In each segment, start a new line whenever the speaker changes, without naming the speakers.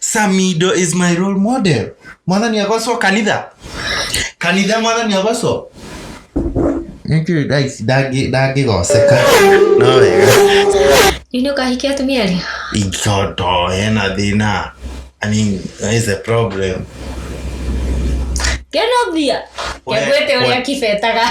samido is my role model mwathani agocwo kanitha kanitha mwathani agocwo Nĩkĩũĩ ndaici ndangĩ- ndangĩgoceka no wega Nini
ukahikia atumia ali? igoto
hena thĩna I mean, there is a problem
Keno bia. We- Kegwete we- uria kibetaga.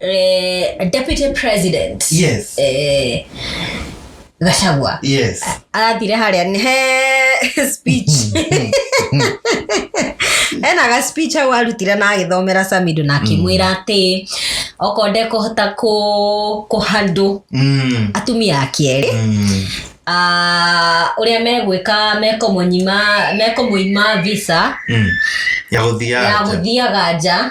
eh, deputy president Yes.
eh,
gacagwa Yes. arathire
harĩa
nĩ he speech ena ga speech hau arutire na agĩthomera samido na akĩmwĩra atĩ okorwo ndekũhota kũ- kũhandũ Mm. atumia a kerĩ Mm. ah, ũrĩa megwĩka mekũmũnyima mekũmũima visa Mm. Ya
gũthiaga. ya gũthiaga nja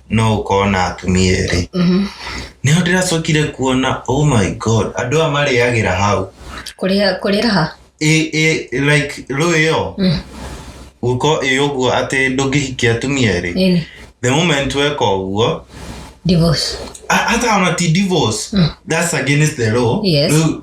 no ũkorwo na atumia erĩ nĩho ndĩracokire kuona oh my god andũ aya marĩagĩra hau kũrĩa kũrĩa raha
ĩ ĩ like
rũĩ ĩyo gũkorwo ĩ ũguo atĩ ndũngĩhikia atumia erĩ nini the moment weka ũguo divorce
a- hata ona
ti divorce that's against the law Yes. Rĩu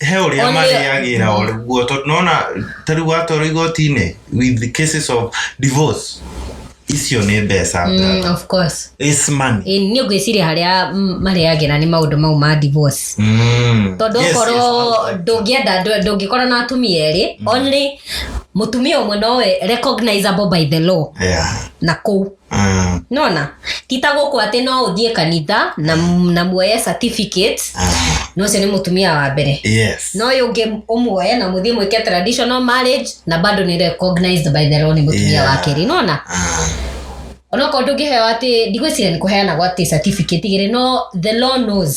he å rä a Only- marĩagä ra o rä guo tondå nona ta rä u watwarwo igoti-inĩ with the cases of divorce icio nä mbeca Mm, brother. of course
It's money. Ĩĩ,
niĩ ngwĩciria harĩa
mm, marĩagĩra nĩ maũndũ mau ma divorce Mm. tondå Yes, yes, okorwo okay. ndångĩenda ndũ- ndũngĩkorwo na atumia erĩ only mũtumia ũmwe nowe recognizable by the law Yeah. na kũu Mm, nona tita gũkũ atĩ no ũthiĩ kanitha na, na muoye certificate mm, na ũcio nĩ mũtumia wa mbere yes no ũyũ ũngĩ ũmuoye na mũthiĩ mwĩke traditional marriage na bado nĩ recognized by the law nĩ mũtumia Yeah. wa kerĩ nona Mm, onokorwo ndũngĩheo atĩ ndigwĩciria nĩ kũheanagwo atĩ certificate igĩrĩ no the law knows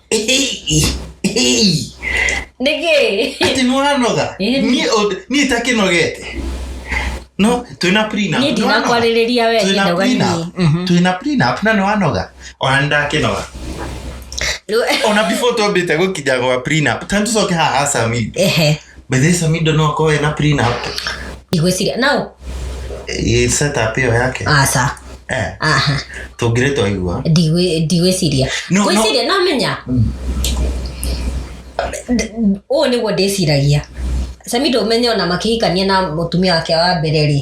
nĩkĩ ati nĩwanoga
Ĩĩ. Niĩ ũnd- niĩ itakĩnogete no twĩna prenup, niĩ nĩwanoga? ndinakwarĩrĩria
we Twĩna ndinoga niĩ prenup, twĩna prenup
na nĩwanoga ona nĩndakĩnoga Rĩu- ona before twambĩte gũkinya gwa prenup tani tũcoke haha sami ehe Bethe Samido no akorwo ena prenup. ndigwĩciria
nao Ĩ
setup ĩyo yake. aca Eh,
aha
tũngĩrĩ twaigua. ndigwĩ- ndigwĩciria
No, no. gwĩciria namenya D- ũũ nĩguo ndĩciragia samido ũmenye ona makĩhikania na mũtumia wake wa mbere rĩ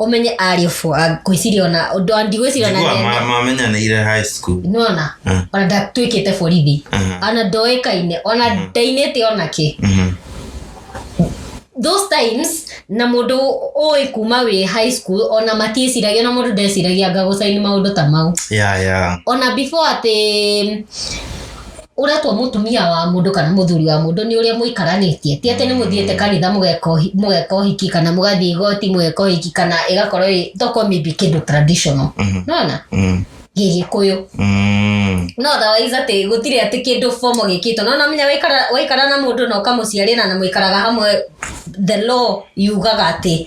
ũmenye ariũ bwo ngwĩciria ona ũndũ wa ndigwĩciria ona njigua nene. ma- mamenyanĩire high
school nona Mm. ona
ndatuĩkĩte borithi Mhm. ona ndoĩkaine ona ndainĩte ona kĩ Mhm. those times na mũndũ ũĩ kuma wĩ high school ona matiĩciragia na mũndũ ndeciragia ngagocaini maũndũ ta mau ya ya ona before atĩ ũretwo mũtumia wa mũndũ kana mũthuri wa mũndũ nĩ ũrĩa mũikaranĩtie ti atĩ nĩ mũthiĩte kanitha mũgeka ũhi- mũgeka ũhiki kana mũgathiĩ igoti mũgeka ũhiki kana ĩgakorwo ĩ- tokorwo maybe kĩndũ traditional Mhm. nona Mm. gĩgĩkũyũ Mm. no otherwise atĩ gũtirĩ atĩ kĩndũ fomo gĩkĩtwo no namenya waikara waikara na mũndũ na ũkamũciarĩra na mũikaraga hamwe the law yugaga atĩ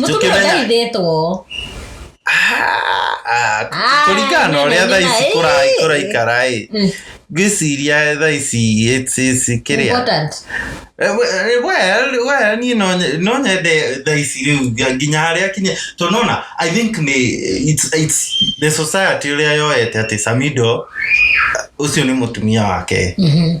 mũtumia ũndaithĩtwo
kũringana na ũrĩa thaa ici kũraikara ĩ ngĩciria thaa ici kĩrĩa we niĩ no nyende thaa ici rĩu nginya harĩa kinya to nona i think nĩ the society ũrĩa yoete atĩ samido ũcio nĩ mũtumia wake mm-hmm.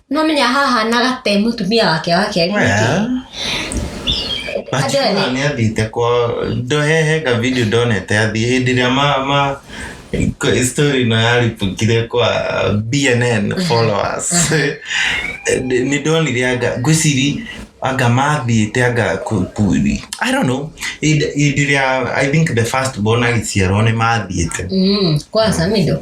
Nĩwamenya hahanaga te mũtumia wake wa kerĩ
nĩkĩ? Andũ nĩ athite kwa ndohehenga video ndonete athiĩ hĩndĩ ĩrĩa ma ma kwa- story ĩno yaribukire kwa bnn followers Nĩ- nĩ ndonire anga ngwĩciri anga mathiĩte anga ku- ku- i don't know hĩndĩ hĩndĩ ĩrĩa i think the first born agĩciarwo nĩ mathiĩte Mm, kwa Samido.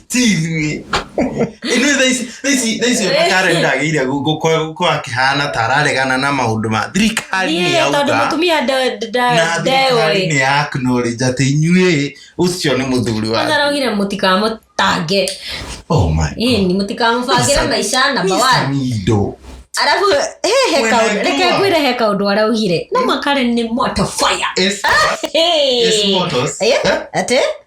tiithuĩ ithuĩ thaici thaici thaici ona karen ndagĩire gũkorwo akĩhana ta araregana na maũndũ ma thirikari nĩ Niĩ tondũ yauga mũtumia nde- na nde-
thirikari ndeũĩ
nĩ ya acknowledge atĩ inyuĩ ũcio nĩ mũthuri wa ndarogire
mũtikamũtange oh my ini mũtikamũbangĩre maica namba Mr. one Mido.
arabu
he he Wena kaũndũ njũa. reke ngwĩre he kaũndũ araugire no makare nĩ moto fire Yes, yes,
Hey. motos. Eh, Eh? atĩ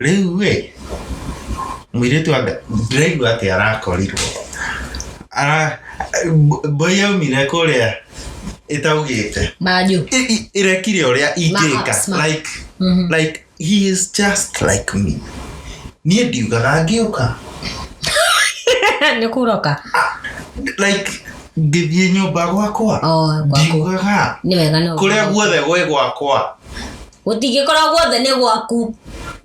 rĩu ĩ mũirĩtu anga ndĩraigua atĩ arakorirwo Ara- mb- mbũi yaumire kũrĩa ĩtaugĩte manjũ I- i-
ĩrekire ũrĩa
Max, ingĩka Max. like Mhm. like he is just like me niĩ ndiugaga ngĩũka
nĩ kũroka like
ngĩthiĩ nyũmba gwakwa Oh, gwaku. ndiugaga nĩ wega no kũrĩa
guothe gwĩ
gwakwa gũtingĩkorwo
guothe nĩ gwaku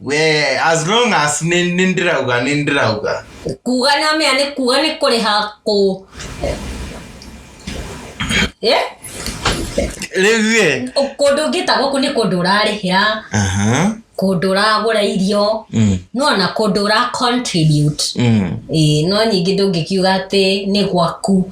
we
as long as nĩ nĩ ndĩrauga nĩ ndĩrauga kuga
nĩ wamenya nĩ kuga nĩ kũrĩha kũ
Eh? rĩu ĩ kũndũ ũngĩta gũkũ
nĩ kũndũ ũrarĩhĩra aha kũndũ ũragũra irio Mm, no ona kũndũ ũra contribute mm. Ĩĩ, no nyingĩ ndũngĩkiuga atĩ nĩ gwaku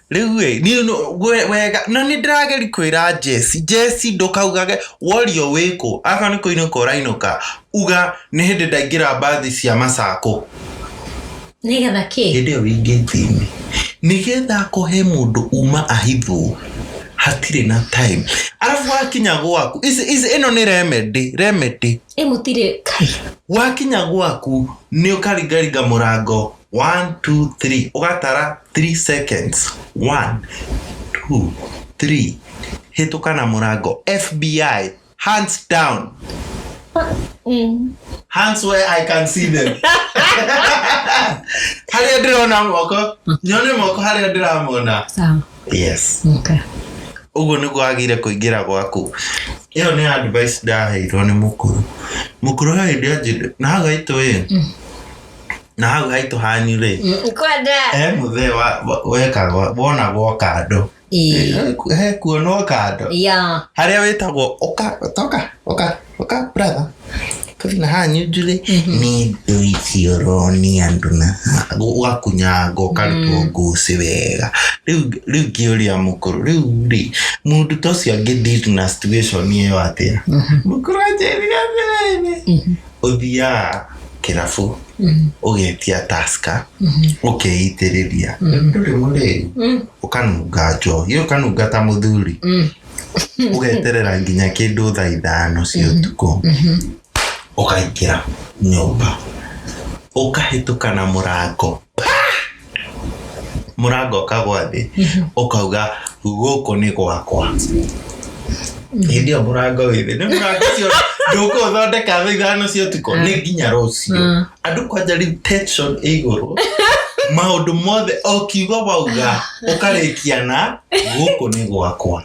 Rĩu ĩ, niĩ no- we- wega, na nĩ ndĩrageri kwĩra Jesse, Jesse ndũkaugage Wario wĩkũ, akorwo nĩ kũinũka ũrainũka, uga nĩ hĩndĩ ndaingĩra mbathi cia macakũ.
nĩgetha kĩ hĩndĩ ĩyo wingĩtini
nĩgetha kũhe mũndũ uma ahithwo hatirĩ na time arabu wakinya gwaku ici- ici- ĩno nĩ remedy remedy ĩ mũtirĩ
kai wakinya gwaku
nĩ ũkaringaringa mũrango one two three ũgatara three seconds one two three hĩtũka na mũrango fbi hands down Mm. hands where i can see them harĩa ndĩrona moko nyone moko harĩa ndĩramona Sawa. yes
Okay. ũguo nĩguo
agire kũingĩra gwaku ĩyo nĩ advice ndaheirwo nĩ mũkũrũ mũkũrũ he hĩndĩ anjĩte na hagaitũ ĩ na hau haitũ hanyu rĩ Mm, kwenda he
mũthee wa-
wa- wekagwo wonagwo kando Ĩĩ. He- he kuonwo kando ya harĩa wĩtagwo ũka toka ũka ũka brother kathi na hanyu njurĩ nĩ ndũ icio ũronia andũ na ũgakunyangwo ũkarutwo ngucĩ wega rĩu rĩu ngĩũria mũkũrũ rĩu rĩ mũndũ ta ũcio angĩ deal na situation ĩyo atĩa mũkũrũ anjĩrire atĩrĩrĩ ũthiaga kĩrabu ũgetia taska ũkeitĩrĩria ndũrĩ mũrĩu ũkanunga njohi ũkanunga ta mũthuri ũgeterera nginya kĩndũ thaa ithano cia ũtukũ ũkaingĩra nyũmba ũkahĩtũka na mũrango mũrango ũkagwa thĩ ũkauga gũkũ nĩ gwakwa hĩndĩ ĩyo mũrango wĩ thĩ nĩ mũrango ũcio ndũkũthondeka thaa ithano cia ũtukũ nĩ nginya rũciũ Mm. andũ kwanja rĩu tension ĩ igũrũ maũndũ mothe o kiugo wauga ũkarĩkia na gũkũ nĩ gwakwa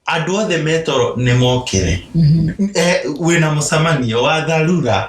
andũ othe metoro nĩ mokĩre Eh, wĩna mũcemanio wa tharura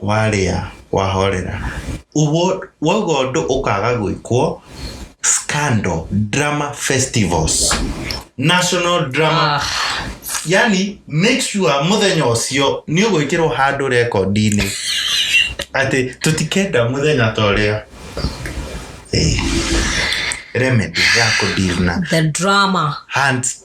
warĩa wahorera uguo wauga ũndũ ũkaga gwĩkwo scandal drama festivals national drama Ah, yani make sure muthenya ucio ni ugwikirwo handu rekondi-ini ati tutikenda muthenya ta uria remedy ya kudirna the drama
hands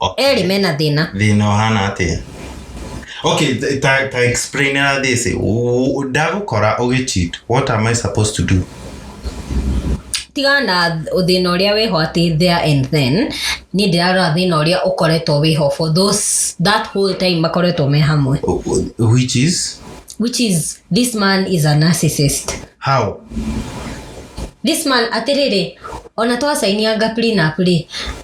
Okay. erĩ mena thĩna thina ũhana atĩa
okay ta- ta, ta explain na this U- ndagũkora ũgĩcheat what am i supposed to do tigana na
thĩna ũrĩa wĩho atĩ there and then niĩ ndĩrarora thĩna ũrĩa ũkoretwo wĩho for those that whole time makoretwo me hamwe U- u- which is
which is this man is a
narcissist how this man atĩrĩrĩ ona twacainianga prenup rĩ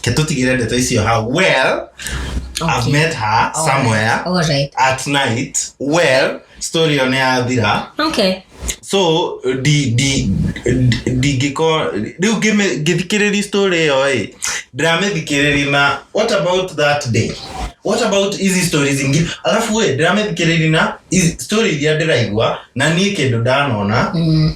ketutigire ndeto icio hau well okay. i've met her All somewhere right. All right. at
night
well story ĩyo nĩ yathira Okay.
so ndi-
ndi- ndi- ndingĩko rĩu ngĩmĩ- ngĩthikĩrĩria story ĩyo ĩ ndiramĩthikĩrĩria na what about that day what about hizi stories ingĩ alafu ĩ ndiramĩthikĩrĩria na hizi story iria ndĩraigua na niĩ kĩndũ ndanona Mm.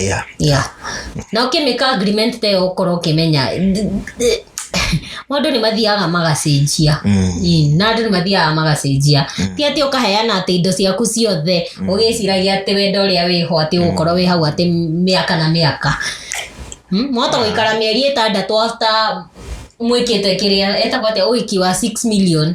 yeah. yeah. na ũkĩmĩka agreement te ũkorwo ũkĩmenya maũndũ nĩ mathiaga magacenjia Mm. na andũ nĩ mathiaga magacenjia ti atĩ ũkaheana atĩ indo ciaku ciothe ũgĩciragia atĩ wenda ũrĩa wĩho atĩ ũgũkorwo wĩ hau atĩ mĩaka na mĩaka Mm, mwahota gũikara mĩeri ĩtandatũ after mwĩkĩte kĩrĩa etagwo atĩa ũhiki wa 6 million